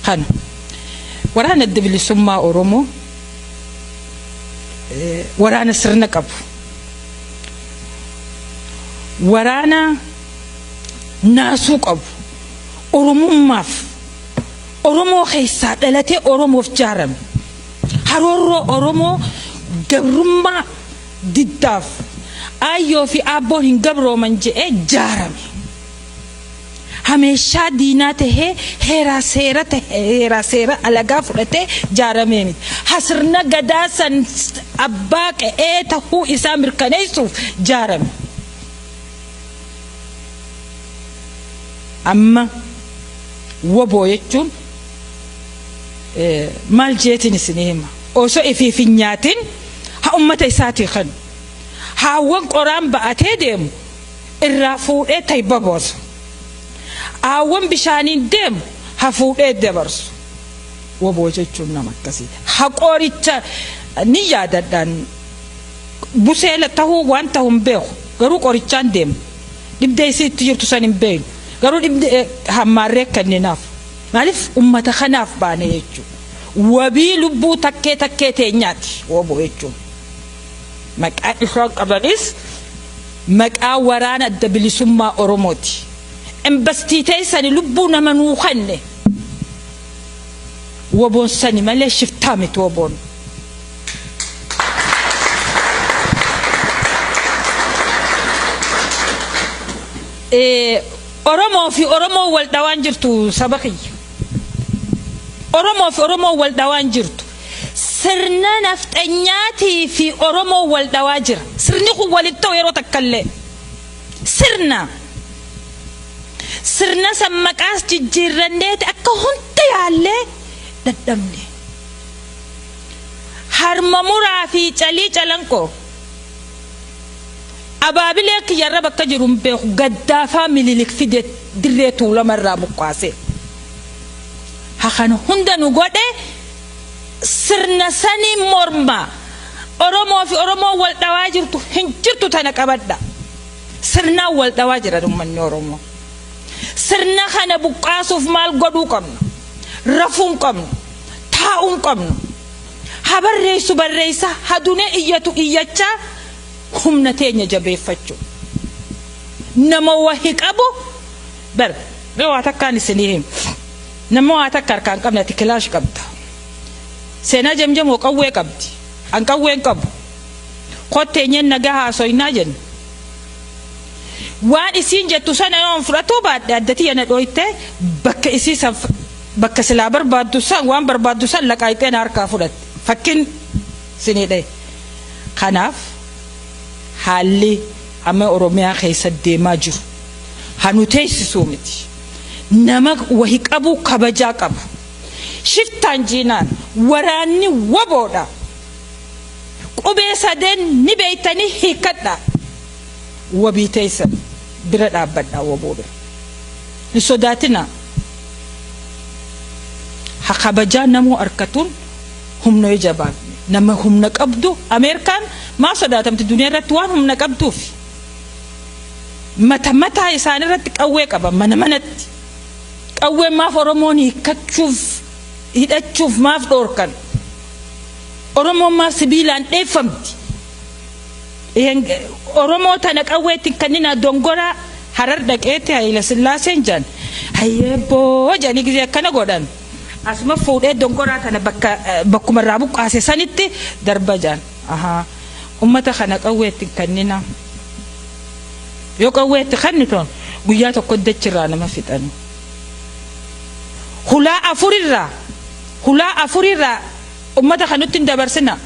Kan waraana adda bilisummaa Oromoo eh, waraana sirna qabu. Waraana naasuu qabu. Oromummaaf Oromoo keessaa dhalatee Oromoof jaarame. Haroorroo Oromoo gabrummaa diddaaf aayyoo fi aabboon hin gabrooman jedhee jaarame. hameeshaa diinaa tahee heeraa seera tahe heeraa seera alagaa fudhatee jaaramee miti. Ha sirna gadaa san abbaa qe'ee tahuu isaa mirkaneessuuf jaarame. Amma woboo jechuun maal jeetiin isinii hima osoo ifiif hin nyaatin ha ummata isaatii kan haawwan qoraan ba'atee deemu irraa fuudhee tayba boosa. Aawwan bishaaniin deemu ha fuudhee dabarsu. Waboo jechuun nama akkasiiti. Ha qoricha ni yaadadhaan busee tahuu waan tahu hin beeku. Garuu qorichaan deema. Dhibdee isii itti jirtu san hin beeynu. Garuu dhibdee hammaarree kenninaaf. Maaliif ummata kanaaf baane jechuudha. Wabii lubbuu takkee takkee teenyaati waboo jechuun. Maqaa isaan qabanis Maqaa waraana adda bilisummaa oromooti embastii teessani lubbuu nama nuu kenne woboon sani malee shiftaa miti woboon. Oromoo fi oromoo wal dhawaan jirtu saba kiyya. Oromoo fi oromoo wal dhawaan jirtu. Sirna nafxanyaatii fi Oromoon wal dhawaa jira. Sirni kun wal hin ta'u yeroo takka illee. Sirna. Sirna san maqaas jijjiirranneeti akka hunda yaallee dadhabne. Harma muraa fi calii calanqoo. Abaabilee kiyyarra bakka jiru hin beeku gaddaafaa mililik fide dirree tuulama irraa buqqaasee. ha kan hunda nu godhe sirna saniin morma oromoo fi oromoo wal dhawaa jirtu hin jirtu tana qabadha sirnaan wal dhawaa jira ummanni oromoo sirna kana buqqaasuuf maal godhuu qabnu rafuun qabnu taa'uun qabnu ha barreessu barreessa ha dunee iyyatu iyyachaa humna teenya jabeeffachuu nama wahi qabu Bar mee waa takkaan isinii him namma waa takka harkaan qabne ati kilaash qabda seenaa jamjamoo qawwee qabdi an qawween qabu kotteenyeen nagaa haasoynaa jenna waan isiin jettu sana yoon fudhatuu baadhe adda tiyya na dhooyte bakka isii san bakka silaa barbaaddu san waan barbaaddu san laqaayxee na harkaa fudhatte fakkin sinii dhahe kanaaf haalli Amma oromiyaa keessa deemaa jiru ha nu teessisuu miti nama wahi qabu kabajaa qabu shiftaan jiinaan waraanni wbo dha qubee sadeen ni beektanii hiikkadha wabii teessan bira dhaabbadha wbo bira hin sodaatinaa ha kabajaa namuu arkatuun Humna yoo jabaanne nama humna qabdu Ameerikaan maaf sodaatamti duniyaa irratti waan humna qabduuf mata mataa isaanii irratti qawwee qaban mana manatti qawween maaf Oromoon hiikkachuuf hidhachuuf maaf dhoorkan Oromoon maaf sibiilaan dheeffamti Ihen- Oromoo tana qawweetti kannina dongoraa harar dhaqeetti Hayila Sillaaseen jedhan hayyeebboo jedhanii gisee akkana godhan Asuma fuudhee dongoraa tana bakka bakkuma irraa buqqaase sanitti darba jaan. Ahaa. Ummata kana qawwee itti hin kennina. Yoo qawwee itti kennitan guyyaa tokko dachi irraa nama fixan. Hulaa afurirraa hulaa afurirraa ummata kanutti hin dabarsina.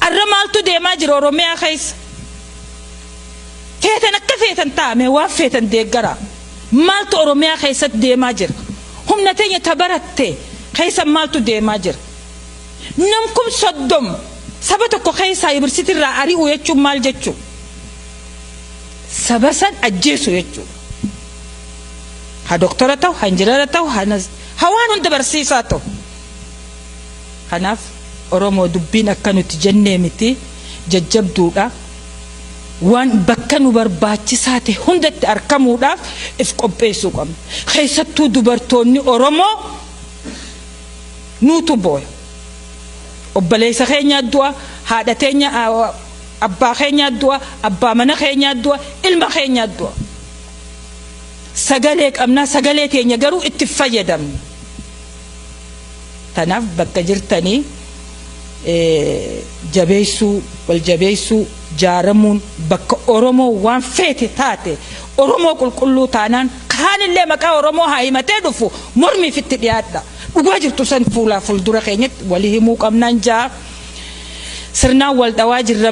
Arra maaltu deemaa jira Oromiyaa keessa? Feetan akka feetan taa'ame waan feetan deeggara. Maaltu Oromiyaa keessatti deemaa jira? Humna teenya ta baratte keessa maaltu deemaa jira? Nam kum soddom saba tokko keessaa yubirsitii irraa ari'uu jechuun maal jechuu? Saba san ajjeesuu jechuu. Ha doktora ta'u, ha injinara ta'u, ha nas- ha waan hunda barsiisaa ta'u. Kanaaf Oromoo dubbiin akka nuti jennee miti jajjabduudha. waan bakka nu barbaachisaa ta'e hundatti arkamuudhaaf if qopheessuu qabna. Keessattuu dubartoonni Oromoo nuutu booya. Obboleessa keenyaa du'a, haadha teenya abbaa keenyaa du'a, abbaa mana keenyaa du'a, ilma keenyaa du'a. Sagalee qabnaa sagalee teenya garuu itti fayyadamna. Tanaaf bakka jirtanii jabeessuu, wal jabeessuu, jaaramuun bakka Oromoo waan feete taate Oromoo qulqulluu taanaan kaanillee maqaa Oromoo haa himatee dhufu mormiif itti dhiyaadha. Dhugaa jirtu san fuulaa fuuldura keenyatti walii himuu qabnaan jaa sirnaan wal dhawaa jirra.